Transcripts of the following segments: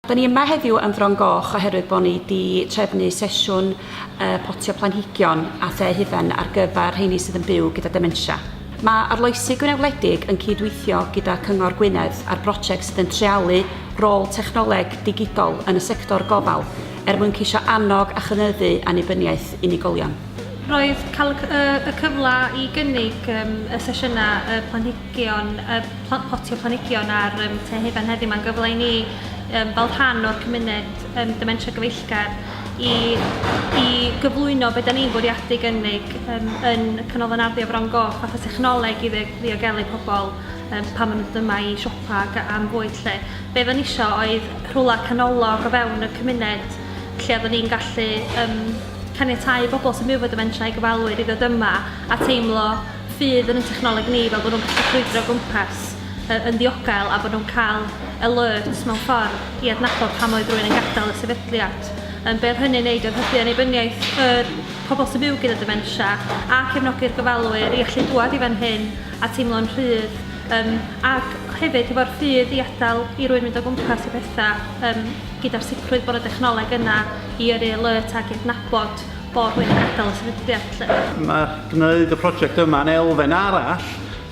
Da ni yma heddiw yn Fron Goch oherwydd bod ni di trefnu sesiwn uh, potio planhigion a the hufen ar gyfer rheini sydd yn byw gyda dementia. Mae Arloesi Gwynedd Wledig yn cydweithio gyda Cyngor Gwynedd ar brosiect sydd yn trealu rôl technoleg digidol yn y sector gofal er mwyn ceisio annog a chynyddu annibyniaeth unigolion. Roedd cael y cyfle i gynnig um, y sesiynau y planhigion Geon y plant potio planhigion ar um, Te Hufen heddiw. Mae'n gyfle i ni, um, fel rhan o'r cymuned um, dementia gyfeillgar, i, i gyflwyno beth da ni'n bwriadu gynnig um, yn y Canolfan Arddio Fron Goch fatha technoleg i ddiogelu pobl um, pan maen nhw'n dyma i siopa ac am fwyd lle. Be fe nisio oedd rhywle canolog o fewn y cymuned lle oeddwn ni'n gallu um, caniatau bobl sy'n byw fod y mentrau i gyfalwyr i ddod yma a teimlo ffydd yn y technoleg ni fel bod nhw'n gallu crwydro o gwmpas yy yn ddiogel a bod nhw'n cael alert mewn ffordd i adnabod pam oedd rhywun yn gadael y sefydliad. Yym, be oedd hynny'n neud oedd hybu annibyniaeth yr pobl sy'n byw gyda dementia a cefnogi'r gofalwyr i allu dŵad i fan hyn a teimlo'n rhydd yym, ac hefyd hefo'r ffydd i adael i rywun mynd o gwmpas i bethau yym, gyda'r sicrwydd bod y dechnoleg yna i yrru alert ac i adnabod bod wedi gadael y sefydliad lly. Mae gwneud y prosiect yma yn elfen arall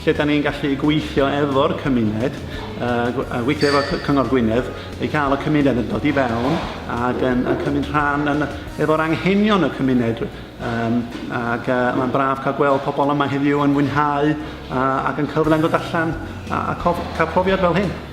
lle da ni'n gallu gweithio efo'r cymuned, uh, gweithio efo Cyngor Gwynedd, i cael y cymuned yn dod i fewn ac yn, yn cymryd rhan yn, efo'r anghenion y cymuned. Um, ac uh, mae'n braf cael gweld pobl yma heddiw yn mwynhau uh, ac yn cyfle yn dod allan a, a cof, cael profiad fel hyn.